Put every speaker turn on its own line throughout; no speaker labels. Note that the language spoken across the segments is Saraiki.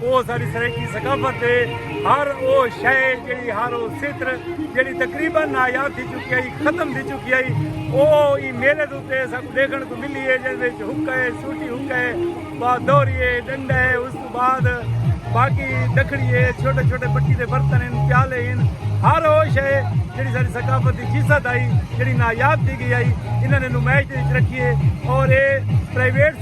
او ساڈی سرائیکی ثقافت ہے ہر او شے جیڑی ہر او ستر جیڑی تقریبا نایاب تھی چکی ہے ختم تھی چکی ہے او ای میلے دے اوتے سب دیکھن کو ملی ہے جس وچ حکا ہے سوٹی حکا ہے با دوری ہے ڈنڈا ہے اس تو بعد باقی دکھڑی ہے چھوٹے چھوٹے بٹی دے برتن ہیں پیالے ہیں ہر او شے جیڑی ساری ثقافت دی جیسا دائی جیڑی نایاب تھی گئی ہے انہاں نے نمائش دے وچ رکھی ہے اور اے پرائیویٹ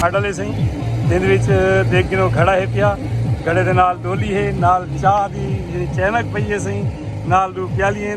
کھاڈا لے سائیں جن وچ دیکھ گنو گھڑا ہے پیا گھڑے دے نال ڈولی ہے نال چاہ دی چینک پئی ہے سائیں نال دو پیالی ہیں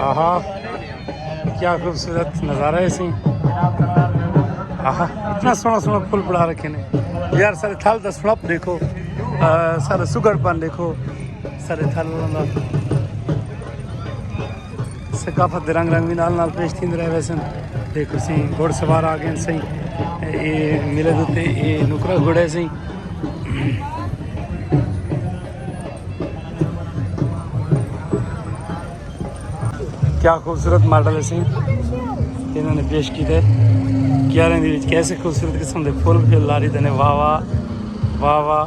آہا
کیا خوبصورت نظارہ ہے سی آہا اتنا سونا سونا پھول پڑا رکھے نے یار سارے تھل دا سڑپ دیکھو سارے سگڑ پن دیکھو سارے تھل اللہ ثقافت دے رنگ رنگ وی نال نال پیش تھیندے رہے ویسن دیکھو سی گھوڑ سوار آ گئے سی اے میلے دے تے اے نکرا گھوڑے سی کیا خوبصورت ماڈل سی انہوں نے پیش کیتے کیاریں دی وچ کیسے خوبصورت قسم دے پھول پھل لاری دے نے واہ واہ واہ واہ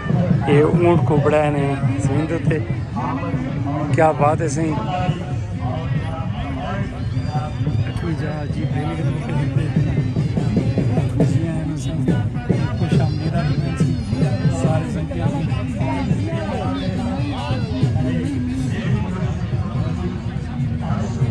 اے اونٹ کو بڑا نے سمندر تے کیا بات ہے سہی